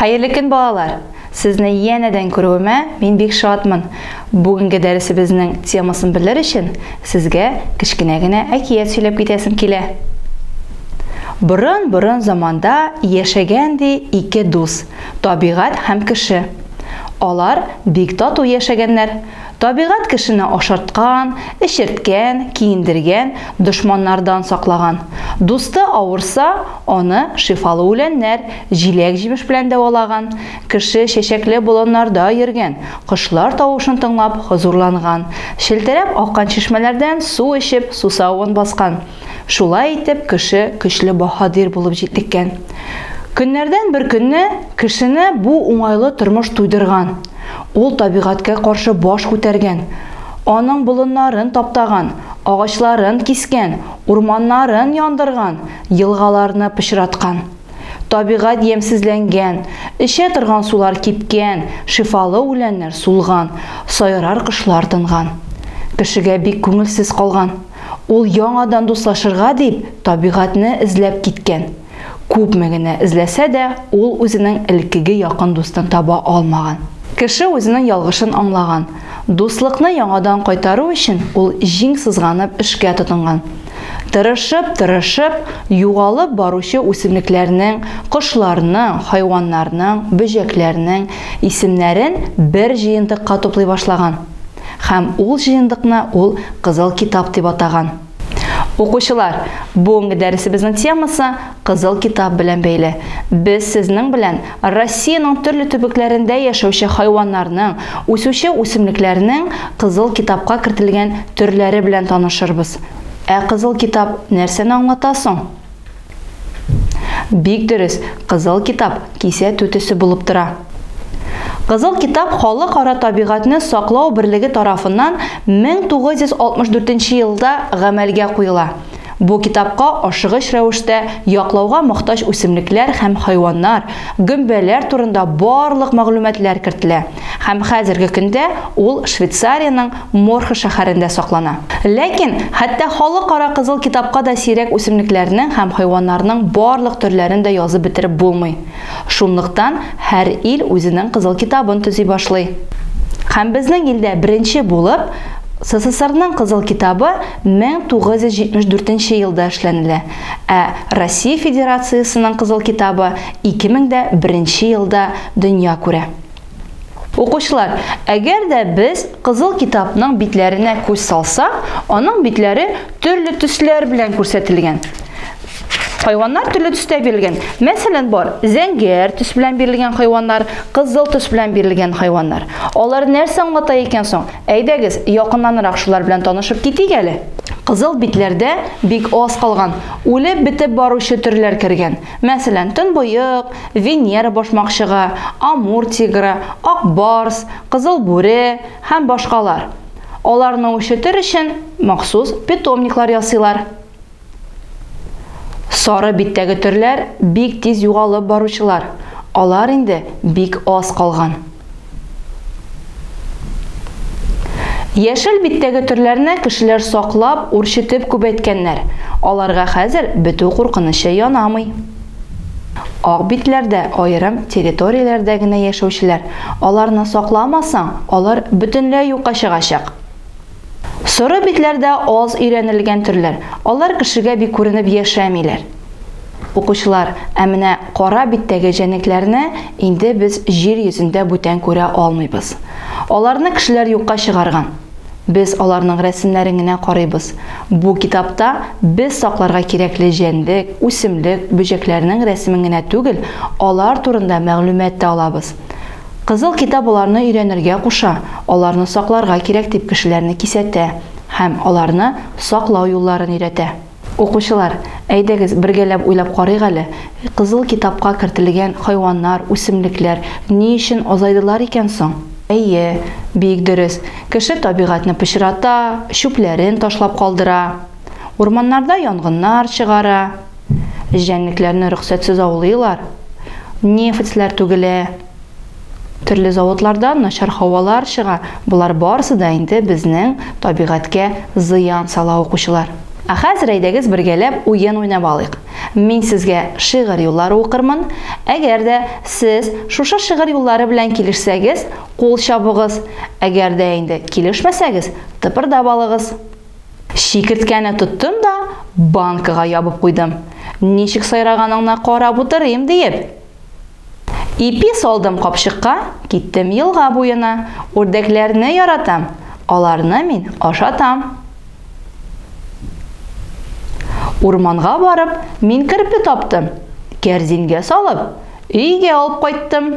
Хәерле көн, балалар! Сезне янәдән күрүемә мин бик шатмын. Бүгенге дәресебезнең темасын белер өчен сезгә кечкенә генә әкият сөйләп китәсем килә. Борын-борын заманда яшәгән ди ике дус, табигать һәм кеше. Алар бик тату яшәгәннәр, Табигать кешене ашарткан, эчерткән, киендергән, дошманнардан саклаган. Дусты авырса, аны шифалы үләннәр, җиләк-җимеш белән дәвалаган. Кеше чәчәкле болыннарда йөргән, кошлар тавышын тыңлап хозурланган, челтерәп аккан чишмәләрдән су эчеп сусавын баскан. Шулай итеп, кеше көчле баһадир булып җитлеккән. Көннәрдән бер көнне кешене бу уңайлы тормыш туйдырган. Ул табигатькә каршы баш күтәргән. Аның болыннарын таптаган, агачларын кискән, урманнарын яндырган, елгаларны пычраткан. Табигать ямьсезләнгән, эчә торган сулар кипкән, шифалы үләннәр сулган, сайрар кошлар тынган. Кешегә бик күңелсез калган. Ул яңадан дуслашырга дип табигатьне эзләп киткән. Күпме генә эзләсә дә, ул үзенең элеккеге якын дустын таба алмаган. Кеше үзенең ялгышын аңлаган. Дуслыкны яңадан кайтару өчен ул җиң сызганып эшкә тотынган. Тырышып-тырышып, югалып баручы үсемлекләрнең, кошларның, хайваннарның, бөҗәкләрнең исемнәрен бер җыентыкка туплый башлаган. Һәм ул җыендыкны ул Кызыл китап дип атаган. Укучылар, бүгенге дәресебезнең темасы Кызыл китап белән бәйле. Без сезнең белән Россиянең төрле төбекләрендә яшәүче хайваннарның, үсүче үсемлекләрнең Кызыл китапка кертелгән төрләре белән танышырбыз. Ә Кызыл китап нәрсәне аңлата соң? Бик дөрес, Кызыл китап кисә түтесе булып тора. Кызыл китап Халыкара табигатьне саклау берлеге тарафыннан 1964 елда гамәлгә куела. Бу китапка ашыгыч рәвештә яклауга мохтаҗ үсемлекләр һәм хайваннар, гөмбәләр турында барлык мәгълүматлар кертелә. Һәм хәзерге көндә ул Швейцариянең Морхе шәһәрендә саклана. Ләкин хәтта Халыкара Кызыл китапка да сирәк үсемлекләрнең һәм хайваннарның барлык төрләрен дә язып бетереп булмый. Шунлыктан һәр ил үзенең Кызыл китабын төзи башлый. Һәм безнең илдә беренче булып СССРның Кызыл китабы 1974 елда эшләнелә, ә Россия Федерациясенең Кызыл китабы 2001 елда дөнья күрә. Укучылар, әгәр дә без Кызыл китапның битләренә күз салсак, аның битләре төрле төсләр белән күрсәтелгән. Хайваннар төрле төстә бирелгән. Мәсәлән, бар, зәңгәр төс белән бирелгән хайваннар, кызыл төс белән бирелгән хайваннар. Алар нәрсә аңлата икән соң? Әйдәгез, якыннанрак шулар белән танышып китик әле. Кызыл битләрдә бик аз калган, үлеп бетеп баручы төрләр кергән. Мәсәлән, төнбоек, Венера башмакчыгы, Амур тигры, Ак барс, Кызыл бүре һәм башкалар. Аларны үрчетер өчен махсус питомниклар ясыйлар. Сары биттәге төрләр бик тиз югалып баручылар, алар инде бик аз калган. Яшел биттәге төрләрне кешеләр саклап, үрчетеп күбәйткәннәр. Аларга хәзер бетү куркынычы янамый. Ак битләрдә аерым территорияләрдә генә яшәүчеләр, аларны сакламасаң, алар бөтенләй юкка чыгачак. Соры битләр дә аз өйрәнелгән төрләр. Алар кешегә бик күренеп яшәмиләр. Укучылар, ә менә кара биттәге җәнлекләрне инде без җир йөзендә бүтән күрә алмыйбыз. Аларны кешеләр юкка чыгарган. Без аларның рәсемнәрен генә карыйбыз. Бу китапта без сакларга кирәкле җәнлек, үсемлек, бөҗәкләрнең рәсемен генә түгел, алар турында мәгълүмат та алабыз. Кызыл китап аларны өйрәнергә куша, аларны сакларга кирәк дип кешеләрне кисәтә һәм аларны саклау юлларын өйрәтә. Укучылар, әйдәгез, бергәләп уйлап карыйк әле, Кызыл китапка кертелгән хайваннар, үсемлекләр ни өчен азайдылар икән соң? Әйе, бик дөрес, кеше табигатьне пычрата, чүпләрен ташлап калдыра, урманнарда янгыннар чыгара. җәнлекләрне рөхсәтсез аулыйлар, нефтьләр түгелә, төрле заводлардан начар һавалар чыга, болар барысы да инде безнең табигатькә зыян сала укучылар. Ә хәзер әйдәгез бергәләп уен уйнап алыйк. Мин сезгә шигырь юллары укырмын, әгәр дә сез шушы шигырь юллары белән килешсәгез, кул чабыгыз, әгәр дә инде килешмәсәгез, тыпырдап алыгыз. Чикерткәне тоттым да, банкага ябып куйдым. Ничек сайраганыңна карап утырыйм диеп. Ипи салдым капчыкка, киттем елга буена. Үрдәкләрне яратам, аларны мин ашатам. Урманга барып, мин керпе таптым. Кәрзингә салып, өйгә алып кайттым.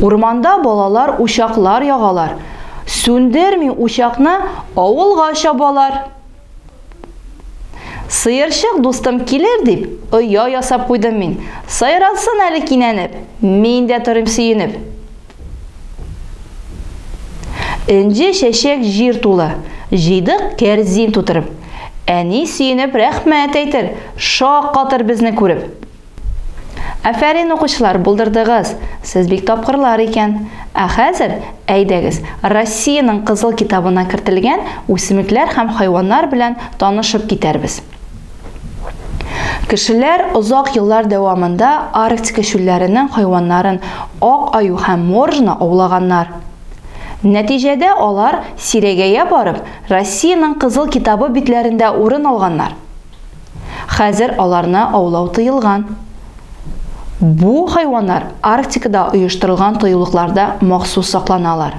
Урманда балалар учаклар ягалар. Сүндерми учакны авылга чабалар. Сыерчык дустым килер дип, оя ясап куйдым мин. Сайратсын әле кинәнеп, мин дә торыйм сөенеп. Энҗе чәчәк җир тулы, җыйдык кәрзин тутырып. Әни сөенеп рәхмәт әйтер, шаккатыр безне күреп. Афәрин, укучылар, булдырдыгыз! Сез бик тапкырлар икән. Ә хәзер, әйдәгез, Россиянең Кызыл китабына кертелгән үсемлекләр һәм хайваннар белән танышып китәрбез. Кешеләр озак еллар дәвамында Арктика чүлләренең хайваннарын, ак аю һәм моржны аулаганнар. Нәтиҗәдә алар, сирәгәя барып, Россиянең Кызыл китабы битләрендә урын алганнар. Хәзер аларны аулау тыелган. Бу хайваннар Арктикада оештырылган тыюлыкларда махсус сакланалар.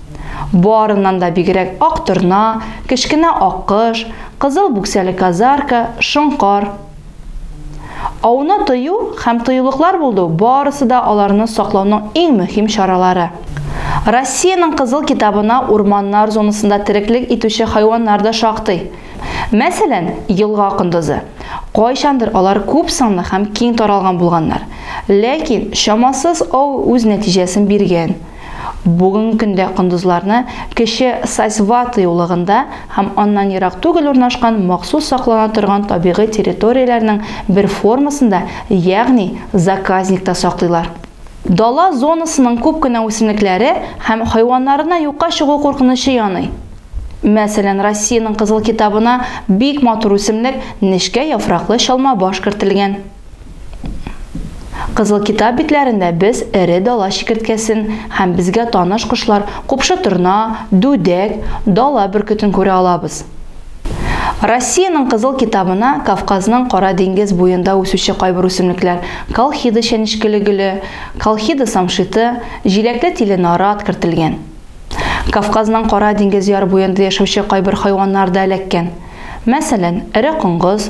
Барыннан да бигрәк ак торна, кечкенә аккош, кызыл бүксәле казарка, шоңкар. Ауны тыю һәм тыюлыклар булдыу барысы да аларны саклауның иң мөһим чаралары. Россиянең Кызыл китабына урманнар зонасында тереклек итүче хайваннар да шактый. Мәсәлән, елга кондызы. Кайчандыр алар күп санлы һәм киң таралган булганнар. Ләкин чамасыз ау үз нәтиҗәсен биргән. Бүгенге көндә кондызларны кече Сасьваты юлыгында һәм аннан ерак түгел урнашкан махсус саклана торган табигый территорияләрнең бер формасында, ягъни заказникта саклыйлар. Дала зонасының күп кенә үсемлекләре һәм хайваннарына юкка чыгу куркынычы яный. Мәсәлән, Россиянең Кызыл китабына бик матур үсемлек, нечкә яфраклы чалма баш кертелгән. Кызыл китап битләрендә без эре дала чикерткәсен һәм безгә таныш кошлар купшы торна, дүдәк, дала бөркетен күрә алабыз. Россиянең Кызыл китабына Кавказның Кара диңгез буенда үсүче кайбер үсемлекләр, колхида чәнечкеле гөле, колхида самшиты, җиләкле тиле нарат кертелгән. Кавказның Кара диңгез яр буенда яшәүче кайбер хайваннар да эләккән. Мәсәлән, эре коңгыз,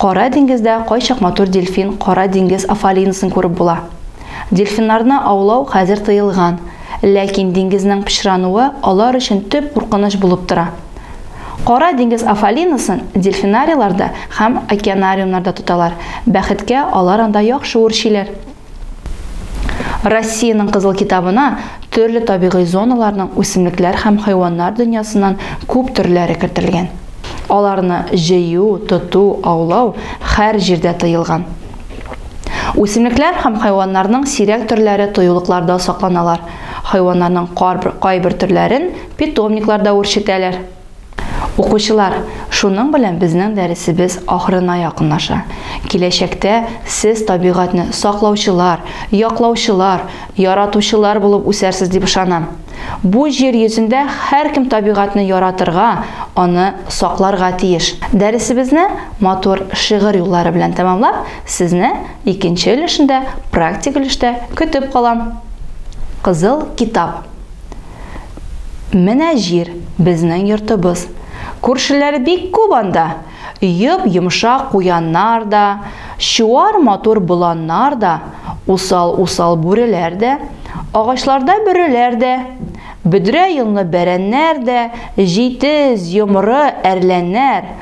Кара диңгездә кайчак матур дельфин, кара диңгез афалинысын күреп була. Дельфиннарны аулау хәзер тыелган, ләкин диңгезнең пычрануы алар өчен төп куркыныч булып тора. Кара диңгез афалинысын дельфинарийларда һәм океанариумнарда тоталар, бәхеткә, алар анда яхшы үрчиләр. Россиянең Кызыл китабына төрле табигый зоналарның үсемлекләр һәм хайваннар дөньясыннан күп төрләре кертелгән. Аларны җыю, тоту, аулау хәр җирдә тыелган. Үсемлекләр һәм хайваннарның сирәк төрләре тоюлыкларда сакланалар, хайваннарның кайбер төрләрен питомникларда үрчетәләр. Укучылар, шуның белән безнең дәресебез ахырына якынлаша. Киләчәктә сез табигатьне саклаучылар, яклаучылар, яратучылар булып үсәрсез дип ышанам. Бу җир йөзендә һәркем табигатьне яратырга, аны сакларга тиеш. Дәресебезне матур шигырь юллары белән тәмамлап, сезне икенче өлешендә, практик өлештә көтеп калам. Кызыл китап. Менә җир, безнең йортыбыз. Күршеләр бик күп анда. Йоп-йомшак куяннар да, чуар матур боланнар да, усал-усал бүреләр дә, агачларда бөреләр дә, бөдрә йонлы бәрәннәр дә, җитез, йомры, әрләннәр,